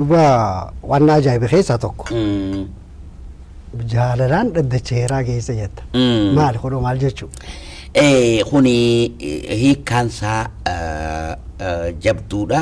Dhuga waan na ajaa'ibe keessaa tokko jaalalaan dhaddacha heeraa geessa jetta. Mm. Maali kunoo maal jechuu? Eh, kuni eh, hiikkaan isaa eh, eh, jabduudha.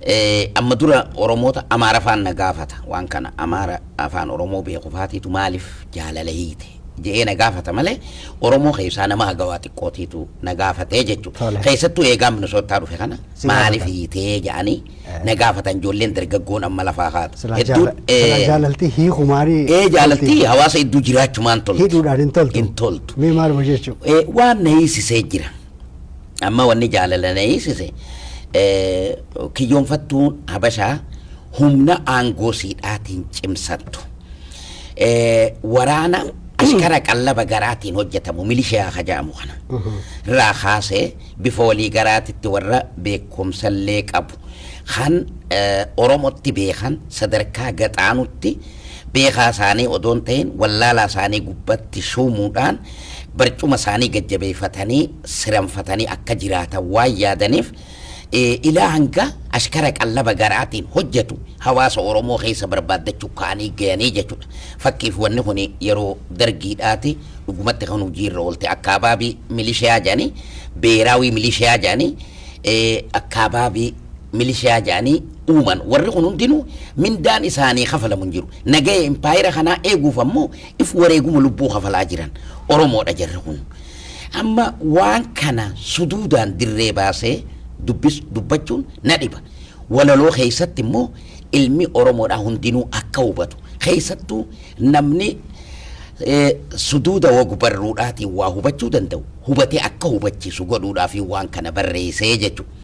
Eh, amma dura Oromoota Amaara afaan na gaafata waan kana Amaara afaan Oromoo beeku faatiitu maaliif jaalala hiite je'ee na gaafata malee Oromoo keessaa nama hagawaa xiqqootiitu na gaafatee jechuudha. Tole. Keessattuu eegaa Minisootaa dhufe kana Si maaliif gaafata. hiitee jedhanii na gaafatan ijoolleen dargaggoon amma lafaa kaatu. Silaa Hedduun, jaala- eh, silaa jaalaltii hiikumaanii ee jaalaltii tolti. hawaasa hedduu jiraachumaan tolti. hidhuudhaan hin toltu. Hin toltu. Mee maaluma jechuu? Eh, waan na hiisisee jira. Amma wanni jaalala na hiisise eh, kiyyoonfattuun habashaa humna aangoo siidhaatiin cimsattu. Eh, waraana ashkara qallaba garaatiin hojjetamu milishiyaa hajaamu kana irraa kaasee Bifa walii garaatitti warra beekkomsallee qabu, kan Oromotti beekan sadarkaa gad-aanutti beekaa isaanii odoo hin tahin wallaalaa isaanii gubbatti shuumuudhaan barcuma isaanii gad-jabeeyfatanii siranfatanii akka jiraatan waan yaadaniif ilaa hanga ashkara qallaba garaatiin hojjatu hawaasa Oromoo keeysa barbaaddachuu ka'anii gayanii jechuudha. Fakkiif wanni kuni yeroo Dargiidhaati. dhugumatti kan hojii irra oolte akkaabaabii milishiyaa jedhanii beeraawii milishiyaa jedhanii akkaabaabii milishiyaa jedhanii uuman warri kun hundinuu mindaan isaanii kafalamu hin jiru nagaya impaayera kanaa eeguuf ammoo if wareeguma lubbuu kafalaa jiran oromoodha jarri kun amma waan kana suduudaan dirree baasee dubbis dubbachuun na dhiba walaloo keessatti immoo ilmi oromoodhaa hundinuu akka hubatu keessattuu Namni suduuda wagbarruudhaatiin waa hubachuu danda'u hubatee akka hubachiisu godhuudhaafin waan kana barreese jechu.